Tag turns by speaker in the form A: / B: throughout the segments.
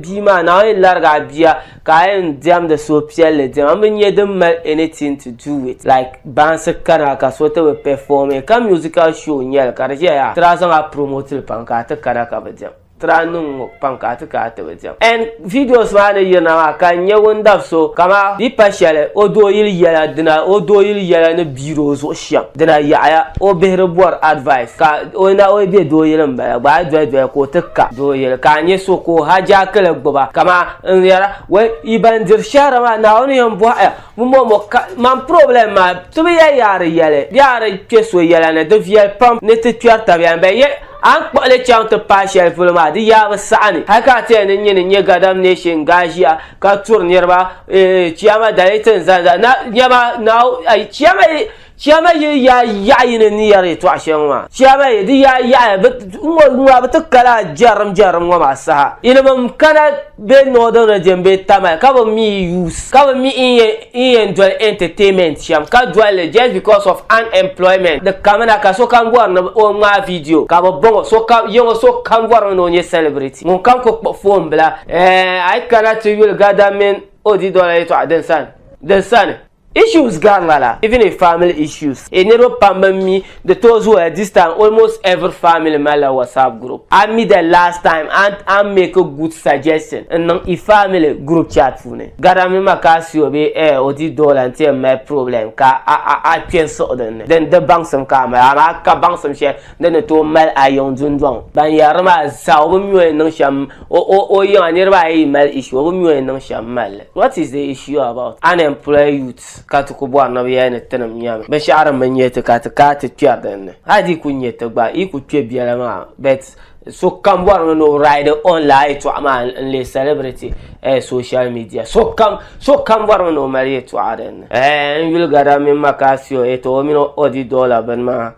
A: bia maa na o yɛn larigi a bia ka a yɛn diɛmdi suhupiɛlli diɛma n bi nyɛ din mali anything to do with like baansi kana ka so ti bi perform ka musical show n nyɛli ka di ʒɛya yaa tira zaŋ a promote li pam ka a ti kana ka bi diɛm tira niŋ ŋɔ pam ka a ti kana ti bi diɛm and videos maa ni yirina maa ka n nyɛ ŋun dabi so kama di pa shɛli o dooyili yɛla dina o dooyili yɛla ni piiri o zuɣu shɛm dina yaɣaya o bihi di bɔri advice ka o na o be doo yili m-bala gba a doli doli ka o ti ka doo yili ka a nya so ka o hajaakili gbuba kaman n yɛra wɛl yi ban diri shɛhira maa Naawuni yɛn bɔhi ya bɛ mɔmɔ ka man problem maa ti bi yɛli ya a di yɛli bee a di kpe so yɛla ni di viɛli pam ni ti kpɛri tabiya ni bɛ yɛli a ni kpuɣi li chaŋ ti paai shɛli polo maa di yaa bi saɣi ni hali ka a ti yɛli ni n nyini n-nyɛ gadam nation ŋga ʒiya ka turi niriba eh, chiyama dali ti n zali na nyɛma na chiyama chiyama yi ya yaɣa yini ni yɛri yɛtɔɣa shɛli ŋɔ maa chiyama yi di ya yaɣa ŋɔ ŋɔ bi ti kala jɛrim jɛrim ŋɔ maa saha yiliba n kana bɛ northern region bɛ tamali ka bi mi youth ka bi mi in yɛn doli entertainment shɛm ka doli just because of unemployment di kamina ka so kam bɔri ni o ŋmaa video ka bi bɔŋɔ so kam yɛŋɔ so kam bɔri ni o nyɛ celebrity ŋun kam ku kpuɣi foon bila Eh, a yi kana ti yuli Gada mini o didɔla yɛtɔɣa din sani, din sani. Issues gari ma la, even in family issues. Eh, niriba pam bi mi, di tooi zooya this time, almost every family mali la WhatsApp group. A mi the last time a ni a ni make a good suggestion n niŋ i family group chat puuni, Gada mini Makasio bee eh, o didɔla n ti yɛn mali problem ka a a a kpe n siɣi din ni, din di baŋsim ka a mali, amaa ka baŋsim shɛli din ni tooi mali a yiŋ dundɔŋ. Ban yɛri li maa zaa o bi mi o yɛn niŋ shɛm O, o, o yiŋa niriba ayi yi mali issue, o bi mi o ni niŋ shɛm m-mali li. What is the issue about unemployed youths ka ti ku bɔri ni bɛ yɛli ni tinim nyami? Binshɛɣu din bi nya ti ka ti kana ti kpɛri din ni. Hali di yi ku nya ti gba, yi ku kpe biɛla maa. But sokam bɔri mi ni o ride on lala yɛltɔɣa maa n-leei celebrity eh social media. Sokam, sokam bɔri mi ni o mali yɛltɔɣa din ni. Eh, n yuli gada mini Macasio, eh tɔ o mini o di dollar bini maa.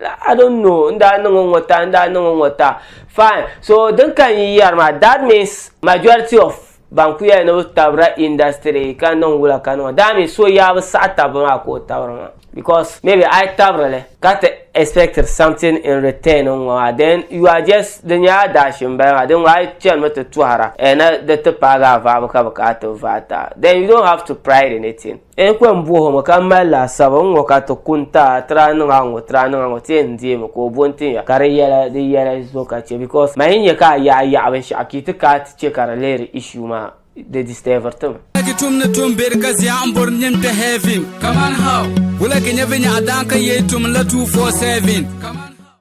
A: I don't know n daa niŋ ŋɔ ta n daa niŋ ŋɔ ta fine so din ka n yi yɛri maa that means majority of ban ku yɛli ni bi tabira industry ka niŋ wula ka niŋ daa mi so yaa bi saɣi tabi maa ka o tabiri maa because maybe a yi tabirili ka ti expect something in return n ŋɔ maa then you are just di nyɛla daashi n bala maa din ŋɔ a yi chɛni mi ti tɔhira na di ti paagi a vaabu ka bi ka a ti vaai ta then you don't have to pride in it. N kpe m-bɔh o mi ka m mali laasabu n-ŋɔ ka ti ku n-ti a tiri a niŋ a ŋɔ tiri a niŋ a ŋɔ ti yɛn deei mi ka o bo n-tin ya ka di yɛla di yɛla so ka chɛ because mani yi nya ka a yaɣi yaɣi binshɛɣu ka yi ti ka a ti chɛ ka di lihiri issue maa di disturbiri ti mi. Wulagi tum ni tum
B: be di ka zia n bori nyin kpe heaven kaman how? Wulagi nyɛ vinyɛɣu daan ka yee tum n la two four seven kaman how?